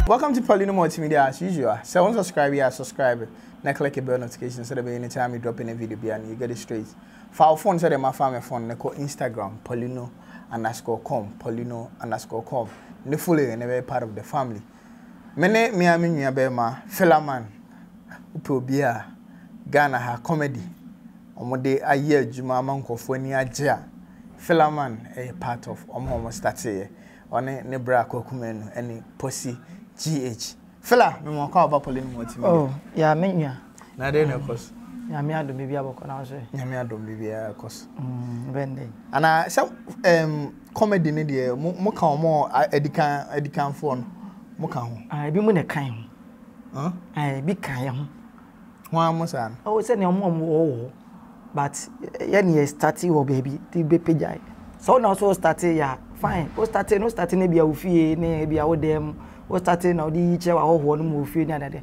Welcome to Paulino Multimedia as usual. Sɛ wɔn subscribe yɛ a subscribe na click the bell notification sɛ dɛbɛyɛ anytime me drop any video bia no you get it straight. Fa wo phone sɛ dɛ mafa me phone na kɔ Instagram Paulino underscore com Paulino underscore com ne follow yɛ na bɛyɛ part of the family. Me ne me ara me nua bɛrima Philaman wopɛ obi a Ghana ha comedy wɔn de ayɛ adwuma ama nkurɔfoɔ ani agye a Philaman yɛ part of wɔn a wɔn starteeɛ ɔne ne bra Kwaku Manu ɛne Posi GH Phila me mɔkɔ a ɔba pɔlɛ no mu ɔtumi. Oh yeah me nua. Na dɛn na ɛkɔ so? Nyame adom biribiara bɛkɔ na so. Nyame adom biribiara kɔ so. Mm, bɛn dɛn? Ana sɛ um, comedy ne deɛ mo mo ka wɔn adikan adikanfoɔ no mo ka ho. Ah, ebi mo na kan ho. Huh? Ah, ebi kan yɛ ho. Ho a mo saa no. Oh, sɛ nea wɔn a wɔwɔ hɔ but yɛ ne yɛ start wɔ baabi ti bɛ pagya. Sɛ wɔn na wɔsɔ start yɛ a fine. Wɔ start no start ne bi a ofie ne bi a wɔ dɛm. Wɔ start na wɔde yi kyerɛ wɔ ahɔhoɔ no mu ofie ne adeade.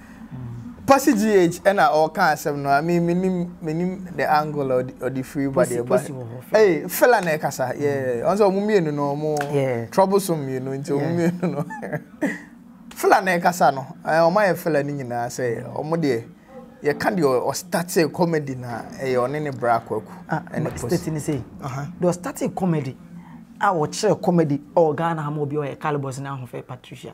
Posse GH ɛna ɔɔka asɛm no a me menim menim the angle a ɔde firi ba deɛ ba ee fela na ɛkasa yeah ɔn sɛ ɔmo mmienu no ɔmo troublesome mmienu nti ɔmo mmienu no fela na ɛkasa no ɛɛ ɔmo ayɛ fela ne nyinaa sɛ ɔmo deɛ yɛka deɛ ɔstate comedy na ɛyɛ ɔne ne bra kwaku ɛne posse state ne sɛ deɛ ɔstate comedy a ɔkyerɛ comedy ɔɔ Ghana ama obi ɔyɛ calibus ne ahofɛ Patricia.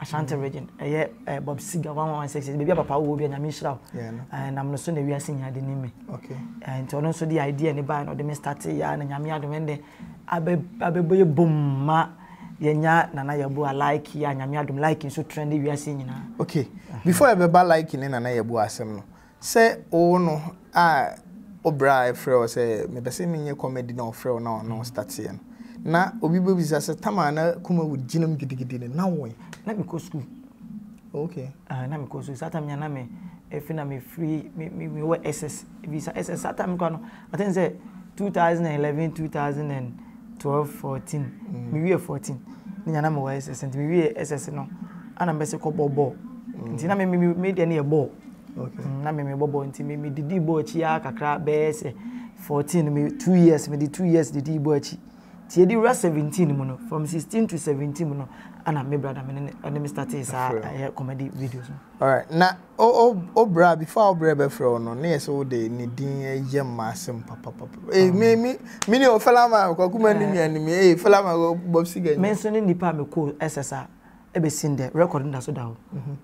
Ashanti region ɛyɛ eh, Bob Seger one one six baabi a papa wɔ bi a nyame nhyira wo eh, nam no so na wiase nyinaa de nim me eh, nti ɔno nso de idea ne bae na ɔde me starte yɛ na nyame adom ɛndɛ abɛbɔ yɛ bom ma yɛnya nana yɛbo a like yɛ a nyame adom like nso trend wiase nyinaa okay before ɛbɛba like ne nana yɛbo asɛm no Sɛ wo no a wo bra a ɛfrɛ wo sɛ mepɛ sɛ menyɛ comedy na ɔfrɛ wo na ɔne wo stateɛ no na obi bɛbisa sɛ Tama na Kumawood gyina mu gidigidi no na wo ɛ? Na mekɔ sukuu. Okay. Ah, na mekɔ sukuu. Saa time nya na me efi na me free me me me wɔ SS. Ebi sa SS saa time kwa no. I think sɛ 2011, 2012, 14. Mm. Me wie 14. Ne nya na me wɔ SS. Nti me wie SS no. Ana mbɛsɛ kɔ bɔ ball. Mm. Nti na me me me deɛ ne yɛ ball. Na me mebɔ bɔɔl nti me didii bɔɔl akyi ara kakra bɛyɛ sɛ fourteen me two years me de two years didii bɔɔl akyi tie di wura seventeen mu no from sixteen to seventeen mu no ana me brada me ne ɔne me startee saa ɛyɛ comedy videos no. Alright na o o bra before o bra bɛfrɛ wo no ne yɛ sɛ wo de ne din yɛ mma asɛm papapapa ee eh, me me me ne o fela ma kwaku ma ne nua ne me ee eh, fela ma bob siga. Me nso ne nipa a me ko ɛsɛ saa. Ebesi ndɛ record no da so da hɔ.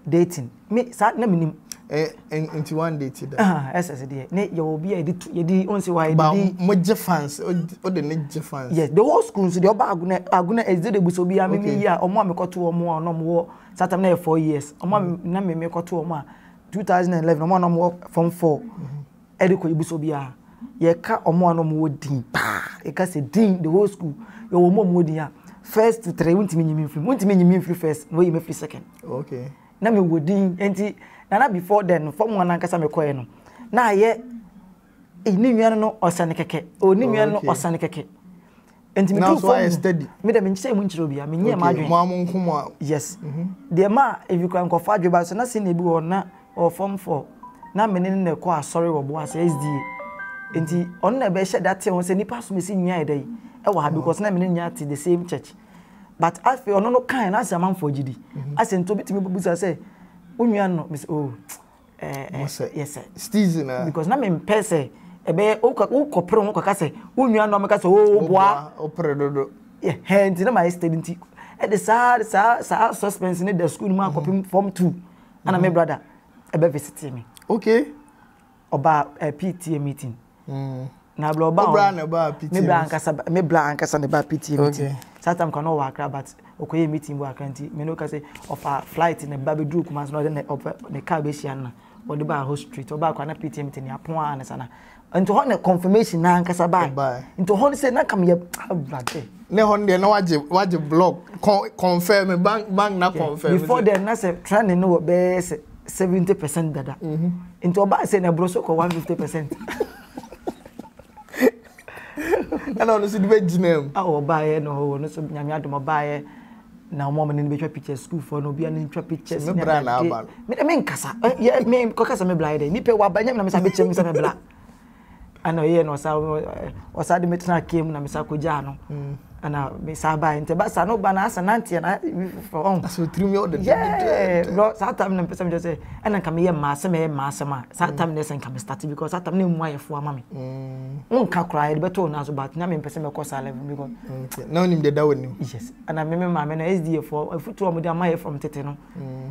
Dating me saa na minim. Ɛ ɛ nti wan date da? Aha SS deɛ ne yɛwɔ obi a yɛde tu yɛde wɔn si hɔ a yɛde di. Ba mo gye fans o de ne gye fans. Yes the whole school nso deɛ ɔba aguna aguna ɛdze de bu so obiara mi mi yi a ɔmo a mekɔ to ɔmo a na ɔmo wɔ saa tam na yɛ four years ɔmo a na mi mekɔ to ɔmo a two thousand and eleven ɔmo a na ɔmo wɔ form four. de kɔ ibusua biara, yɛka wɔn a na wɔwɔ din paa, yɛka sɛ din, the whole school, yɛwɔ wɔn a wɔwɔ din a, first to three, wontumi nyi me mfiri mu, wontumi nyi me mfiri first, na wɔyi me firi second. Okay. Na mewɔ din, nti, na na before then, fam wɔn ankasa mekɔɛ no, na ayɛ, ne nua no no ɔsane kɛkɛ, o ne nua no no ɔsane kɛkɛ. nti mi tu fam mi dɛ mi nkyɛn mu nkyerɛ obiara mi nyɛ mu adwene. mo a mo nko mo a. yes mhm. deɛ maa ebi kura nkɔfɔ adwene ba so na senior bi wɔ na ɔwɔ fam fɔ na mi ne na ɛkɔ asɔre wɔ boase sda nti ɔno na ɛbɛhyɛ da te ho sɛ nipa so mi si nyia yɛ dɛ yi ɛwɔ ha because na mi ne nyia te the same church but afei ɔno no kan na asɛ amanfoɔ gyi di mhm. asɛ nti obi tumi busa sɛ onua no mi sɛ oh. yɛsɛ season a because na me mpɛ sɛ ɛbɛyɛ wokɔ pere ho kɔka sɛ wo nua no ɔmɛka sɛ o boa wopere dodo yɛhɛ nti na mayɛ steady nti ɛde saa saa saa suspense ne da school mu akɔpem mm-hmm. form two ana me mm-hmm. brother ɛbɛ visit me okay ɔba uh, eh, PTA meeting Mm. Na bla oba. Obra na ba piti. Me bla ankasa me bla ankasa ne ba piti mi ti. Saa time kwa no wa akra but okoye meeting bo akra nti me no ka se ofa flight ne ba be duru kuma so na de ne car be hia na wɔde ba ho street ɔba kwa na piti mi ti ne apon a ne sana. Nti hɔ na confirmation na ankasa ba. Nti hɔ se na kam ye avade. Ne hɔ de na waje waje block confirm bank bank na confirm. Before then na se trend no be se seventy percent dada mhm. nti ɔbaa sɛ na ɛboro so kɔ one fifty percent ɛna ɔno nso de bɛgyina mu a ɔbaeɛ na ɔwɔ no so nyame adom ɔbaeɛ na wɔn a wɔn ani bɛtwa pictures sukuufoɔ no obiara ne twa pictures ne bra na aba no me me nkasa yɛ me kɔkasa me bla yɛ dɛ nipa wa ba nyɛ mi na mi sa bɛ kyɛm sɛ me bla. ɛna ɔyɛɛ na ɔsa ɔsa de me tena kaa mu na mesa kɔgyaa no mm. ɛna mesa bae nti ɛba sa no ba na asa nanteɛ na foforɔ ɔn asɛ ɔtirim yɛ ɔdedededɛ bro saa tam na mpɛ sɛ mekyɛ sɛ ɛna nka meyɛ mmaa sɛ mɛyɛ mmaa asɛm a saa tam na ɛsɛ nka mestate because saa tam na ɛmu ayɛfoɔ ama me wonka mm. koraa yɛde bɛtɔ wo no so but na mempɛ sɛ mɛkɔ saa level because na wonim deɛ da w'anim yes ɛna me me maame no sdfoɔ afotuo a wɔde ama yɛ from tete no mm.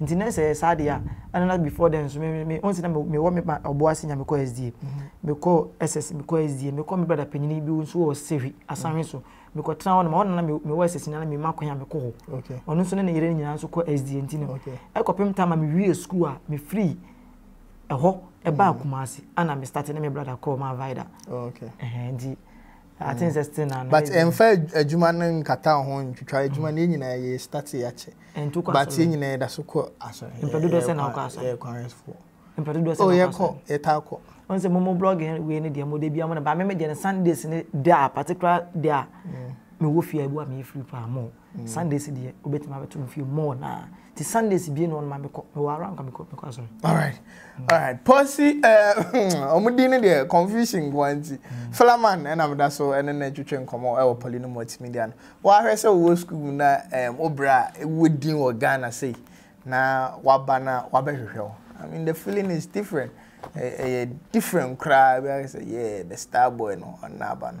Nti na sɛ ɛyɛ saa deɛ a, ɛna na before then nso me me me wohu sɛ na me mewɔ me ma ɔboɔ ase nya mekɔ SDA, mekɔɔ SS mekɔɔ SDA, mekɔɔ me brada panyini bi nso wɔ Sehwi Asanhwe so, mekɔtena hɔ nom, ɛhɔ na na me mewɔ SS nyinaa na mema kwan a mekɔ hɔ. Okay. Ɔno nso ne ne yere no nyinaa nso kɔ SDA nti no Okay. ɛkɔpem time a mewiee sukuu a mefirii ɛhɔ ɛbaa Kumase ana me starte ne me brada kɔɔ Mavida. Okay. Ɛhɛn, nti Aten sɛ still na. But ɛnfa adwuma no nkata wo ho ntwitwa adwuma no yɛ nyinaa yɛ start yɛ akyɛ. Ɛntu kɔ asɔre. But yɛ nyinaa yɛ da so kɔ asɔre. Mpɛ dodoɔ sɛ na wokɔ asɔre. Yɛ kwan fo. Mpɛ dodoɔ sɛ na wokɔ asɔre. Oh yɛ kɔ yɛ taa kɔ. Wɔn sɛ mo mo blog wei ne deɛ mo de bia mo na ba me me deɛ no Sundays ne da particular day a me wɔ fie a ebi wɔ a me yɛ free paa mo. Sundays deɛ wobɛtumi abɛto no fie more na nti Sundays bie na ɔno ma mekɔ mewɔ ara nka mekɔ mekɔ asɔre. Alright mm. alright pɔsi eh, ɛɛ ɔmo din no deɛ confusion nko nti mm. Philaman ɛna mo da so ɛne na twitwe nkɔmɔ ɛwɔ pɔli no mu ɔte media no wahwɛ sɛ wɔ school mu na ɛɛm obira ewɔ din wɔ Ghana sɛ na waba na wabɛhwehwɛ o I mean the feeling is different ɛyɛ eh, eh, different koraa bi ayɛ sɛ yeah the star boy no ɔna aba no.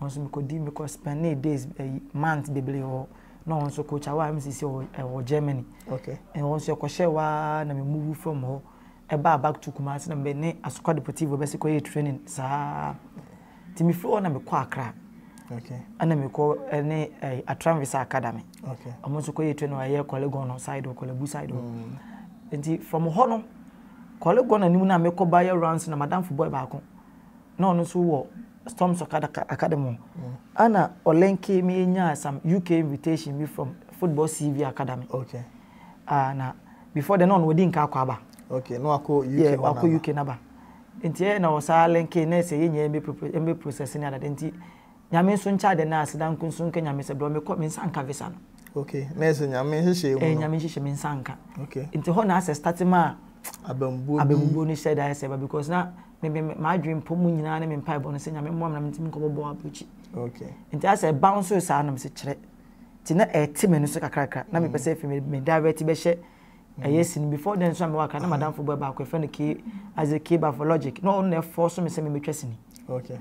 Hɔ nso mekɔ di mekɔ spend ne days ɛyi eh, month bebree wɔ na wɔn nso coach awa mcc wɔ ɛwɔ germany okay ɛwɔ nso ɛkɔhyɛ waa na me move from hɔ ɛbaa back to kumasi na me ne asokwa deportivo bɛsi kɔ yɛ training saa ti me firi hɔ na mekɔ akra okay ɛna mekɔ ɛne ɛɛ atranvisa academy okay wɔn nso kɔ yɛ training wɔ ɛyɛ kɔlegon no side wɔ kɔlebu side wɔ mm. nti from hɔ no kɔlegon anim na mekɔ ba yɛ runs na madamfo boy baako. na ɔno nso wɔ Storms Academy ɛna ɔ link me nyaa some UK invitation bi from Football CV Academy. Okay. Ah na before then na ɔno wadi nka akɔ aba. Okay, na wakɔ UK yeah, wakɔ UK naba. Nti ɛyɛ na ɔsaa link na ɛsɛ yɛn nyɛ ɛmɛ process ne adade nti Nyame nso nkyɛ adɛ na aseda nko nso nka Nyame sɛ brɔ me kɔ me nsa nka visa no. Ok na ɛsɛ Nyame nhyehyɛɛ mu no. Ɛyɛ Nyame nhyehyɛ me nsa nka. Ok. Nti hɔ na asɛ starte maa abamubuo bi. Abamubuo no hyɛ da ayɛ sɛ ba because na me me m'adwene mpɔ mu nyinaa ne me mpaebɔ no sɛ Nyame mmoa me na mentumi nkɔ bɔbɔ abrokyi. Ok. Nti asɛ ɛbouncee saa no me se kyerɛ. Nti na ɛte m'ani so kakrakra na me pɛ sɛ ɛfiri me me direct bɛhyɛ ɛyɛ sin before then nso a mewɔ akra na madamfo bɔ baako ɛfɛ no ke as a ke bafologic na ɔno na ɛfɔ so me sɛ memetwa sini okay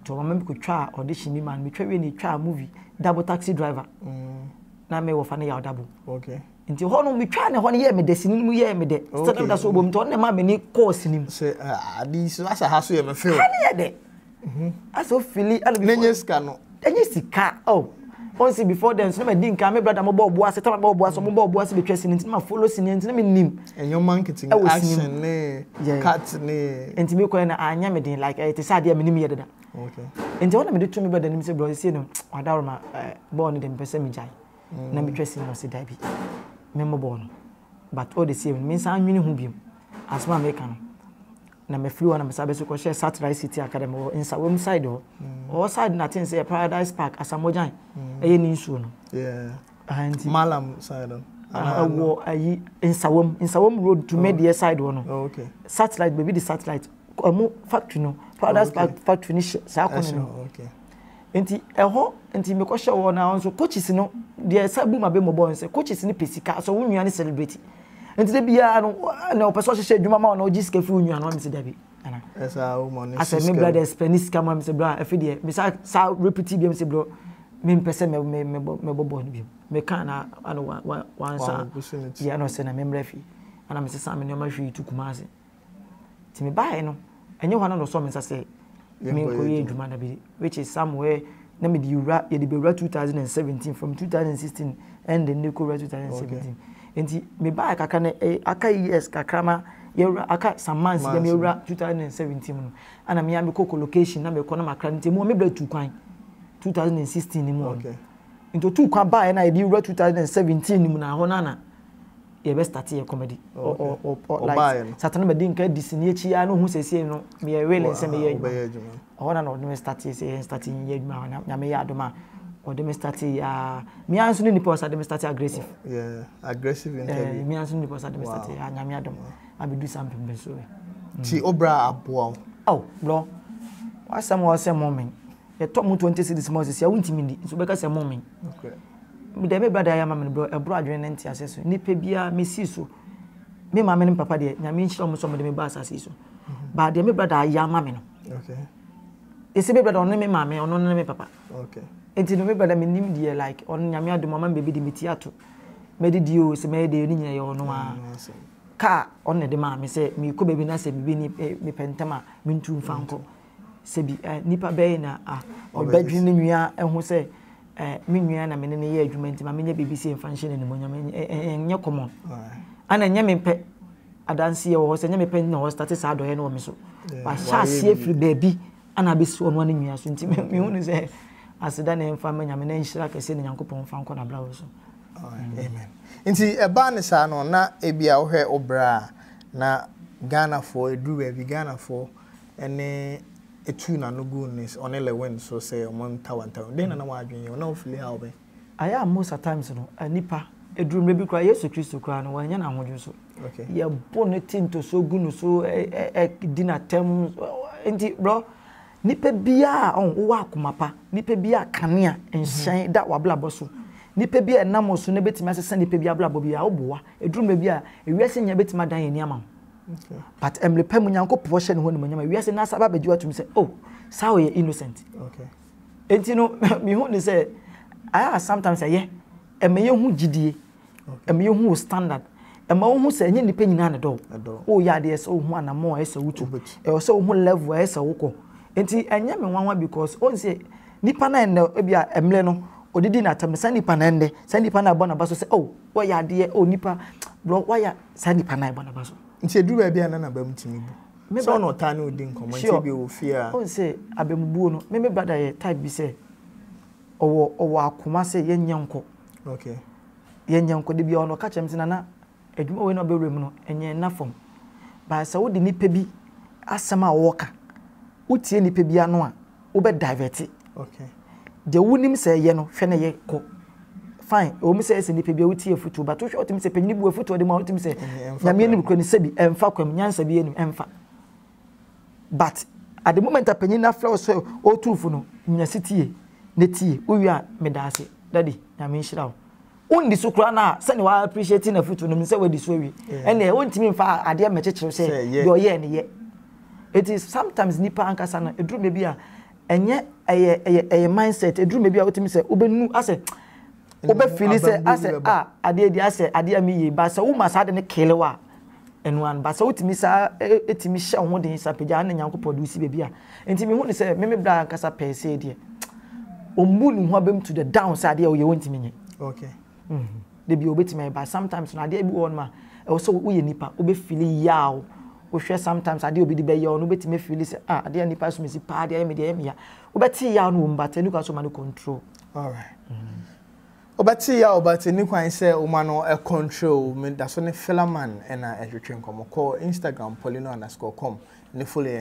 to ɔma me kɔtwa audition bi ma no metwa wie ne twa movie double taxi driver mm. na me wɔfa no yɛ ɔdabo okay nti hɔ no metwa ne hɔ no yɛ me dɛ sini mu yɛ me dɛ sɛ na meda so wɔ bɔ mu nti ɔno na ɛma m'ani kɔɔ sini mu sɛ ade so asa ha so yɛ me fɛ ha ne yɛ dɛ Mhm. Asa ofili ɛna bi. N'enye sika no. Enye sika oh. Onse before then sinima di nka me brother mo bɔ ɔbo ase tama bɔ ɔbo ase mo bɔ ɔbo ase betwa sini nti ma follow sini nti na me nim. Enyoma nkete ne action ne cut ne. Nti me kɔɛ na anya me den like ɛte sɛ adeɛ me nim yɛ dada. Okay. Nti ɛhɔ na me de to me brother nim sɛ brother sie no wadaworo ma bɔɔl no de mpɛ sɛ me gyae. Na me twa sini na ɔsɛ dabi. Me mo bɔɔl no. But ɔde sie no me nsa anwene ho biom. Asoma me ka no. na mefiri hɔ na mesan bɛsi kɔhyɛ Satellite City Academy wɔ Nsawam side hɔ ɔwɔ mm. side na ten sɛ Paradise Park Asamogyan mm. ɛyɛ ne nsuo no nti Malam side wɔ ayi Nsawam Nsawam road to oh. Medeɛ side hɔ no oh, satellite baabi de satellite ɛmo factory no Paradise oh, Park factory no hyɛ saa kɔnɔ no Ntsi hɔ ntsi mekɔhyɛɛ hɔ na nso coaches no deɛ ɛsa bu m'abɛmmɔbɔ no sɛ coaches no pɛ sika sɛ wo nua ne celebrity nti da biara no na ɔpɛ sɛ ɔhyehyɛ adwuma ma wo na ɔgye sika firi wo nua no amese dabi ana asɛ me brada ɛspɛ ne sika ma mesɛ brɔ afei deɛ mesa sa repeti biam sɛ brɔ mempɛ sɛ mɛbɔ bɔɔl no biam meka na ana wansa yɛ na ɔsɛ na memmerɛ fie ana mesesa me nneɛma hwee tu kuma ase nti mebaeɛ no ɛnyɛ hɔ na ɔsɔ me nsa sɛ menkɔyɛ adwuma da bi which is somewhere na mede wura yɛde bɛwura 2017 from 2016 ɛnde ne kɔwura 2017 nti mebaeɛ kakra no eh, aka years kakra ma yɛwura aka some months dɛm yɛwura 2017 mu no ana mea mekɔ collocation na mekɔ na makra no nti mu a mebrɛ tu kwan 2016 mu okay. nti ɔtu kwan baeɛ no a yɛde wura 2017 mu na hɔ no ana yɛbɛ start yɛ comedy like satana madi nka di sini akyi ya no hu sɛsie no meyɛ willing sɛ meyɛ adwuma ɔhɔ na na ɔde me start sɛ yɛn start yɛ adwuma na nyame yɛ adom a ɔde me start ya mea nso ne nipa ɔsa de me start aggressive aggressive interview mea nso ne nipa ɔsa de me start ya nyame adom abɛdu saa mpempem so ti obra aboa wo oh bro wasɛm wɔ sɛ momen yɛtɔ mu 20 cities mu ɔsɛ sɛ wontimi ndi nso bɛka sɛ momen okay Meda me bra de ayɛ ama me no brɛ ɛboro adwene ne nteaseɛ so nipa biara mesi so me maame ne me papa deɛ nyame nhyira wɔn sɛ wɔn de me ba asase so ba deɛ me bra de ayɛ ama me no ɛsɛ me bra de ɔno ne me maame ɔno ne me papa nti no me bra de me nim deɛ like ɔno nyame adom ama me baabi de me ti ato mɛde di o sɛ mɛyɛ deɛ ne nyinaa yɛ ɔno a kaa ɔno na ɛde maa me sɛ mekɔ baabi na sɛ biribi ne mepɛ ntɛm a mentu mfa nkɔ Sɛ bi a, nnipa bɛn na a wɔbɛdwene me nua ho sɛ me nua na me ne no yɛ adwuma nti ma menyɛ biribi sɛ mfa nhyɛ n'animuonyam? Ɛnyɛ common. Ana ɛnyɛ me pɛ adanseɛ wɔ hɔ sɛ ɛnyɛ me pɛ na wɔstate saa adɔeɛ no wɔ me so. Wahyɛ aseɛ firi baabi ana abɛsi ɔno ne nua so nti mehu no sɛ aseda na ɛmfa ma Nyame na nhyira kɛseɛ na Nyankopɔn mfa nkɔ n'abrabɔ so. Amen. Nti ɛbaa ne saa no na ebi a wohwɛ wo berɛ a na Ghanafoɔ ɛduru baabi Ghanafoɔ ne etuu n'ano guu ne ɔne Lewin so sɛ wɔntawantawam. Dɛn na na w'adwene yɛ wo? Na wofili haw bɛn? Ayɛ a most at times no, nnipa, eduru mmerɛ bi koraa Yesu Kristo koraa no, wɔannya n'ahodwene so. Yɛbo no ti ntosoɔ gu no so, di no atɛm, nti brɔ, nipa biara a ɔho, wowɔ akoma pa, nipa biara a kanea, nhyɛn, da w'abrabɔ so, nipa biara a ɛnam wo so na ɛbɛtumi asesa nipa bi abrabɔ biara, woboa. Eduru mmerɛ bi a, ewiase nyinaa bɛtumi adan yɛn ani ama wo. but mmerɛ pa mu nyankopɔn hyɛ ne ho animonyam a wiase n'asa ba bɛgye watum sɛ oh saa ɔyɛ innocent nti no mehu ne sɛ ayɛ a sometimes ɛyɛ ɛma yɛhu gyidie ɛma yɛhu wo standard ɛma wohu sɛ ɛnyɛ nnipa nyinaa ne dɔw woyɛ adeɛ sɛ wohu anammɔ a ɛsɛ wotu ɛwɔ sɛ wohu level a ɛsɛ wokɔ nti ɛnyɛ me nwanwa because ɔn sɛ nipa no ɛnɛ ebi a ɛmmerɛ no ɔdidi n'atam saa nipa no ɛnɛ saa nipa no abɔ n'aba so sɛ oh wɔyɛ adeɛ oh nipa bro wɔyɛ saa nipa no a ɛbɔ n'aba so. Nti ɛduru baabi a na n'abam tumi bu? Me Sɛ wo na brother, ɔtaa ne wo di nkɔmmɔ, nti sure. ebia ɔwɔ fie a. Wohu sɛ abamubuo no, me me brother yɛ type bi sɛ ɔwɔ ɔwɔ akoma sɛ yɛnyɛ nkɔ. Okay. Yɛnyɛ nkɔ. Da biara no ɔka kyerɛ me sɛ, Nana, adwuma wei na wobɛwura mu no, ɛnyɛ nna fam. But sɛ wode nipa bi asɛm a ɔɔka, wotie nipa bi ano a, wobɛ divert okay deɛ wonim sɛ ɛyɛ no hwɛ na ɛyɛ kɔ fine ɛwɔ mu sɛ ɛsɛ nipa bi a wotie afutuo but wohwɛ wotumi sɛ panyin bu afutuo de ma wotumi sɛ nyame anim kura ne sɛbi ɛmfa kwam nyansa bi anim ɛmfa but at the moment a panyin no afrɛ wo sɛ ɔtu fo no nya si tie na tie wowie a meda ase dadi nyame nhyira wo wondi so koraa no a sɛnea wa appreciate n'afotu no sɛ wadi so awie ɛnna wontumi mfa adeɛ mmɛkyekyere sɛ deɛ ɔyɛɛ ne yɛ eti sometimes nipa ankasa no eduru baabi a ɛnyɛ ɛyɛ ɛyɛ ɛyɛ mindset eduru baabi a wotumi sɛ wobɛnu asɛ wobɛfili sɛ asɛ a adeɛ di asɛ adeɛ a mi yie ba sɛ woma saa de ne kelewa. Ɛno ara no, ba sɛ wotumi saa ara tumi hyɛ wo ho den saa pagya ne Nyankopɔn de wo si baabi a. Enti mehu no sɛ me me bra ankasa pɛɛ sei deɛ, ɔmmu ne ho abam to the down sɛ adeɛ a ɔyɛ ɔntumi nyɛ. Okay. Mhm. Da bi a ɔbɛtumi ayɛ but sometimes no adeɛ bi wɔ hɔ nom a ɛwɔ sɛ woyɛ nipa wobɛfili yaw. Wohwɛ sometimes adeɛ a obi de bɛyɛ wo no wobɛtumi afili sɛ ah adeɛ a nipa so mesi paa de ayɛ me deɛ ɛyɛ me ya. Wobɛte yaw no wɔ mu but ɛnu kwan sɛ woma no control. Alright. Mhm. Wobɛte yaw but ɛnni kwan sɛ woma no control wo. Medaso ne Philaman na ɛtwetwe nkɔmmɔ. Kɔ Instagram paulino underscore com ne follow yɛn.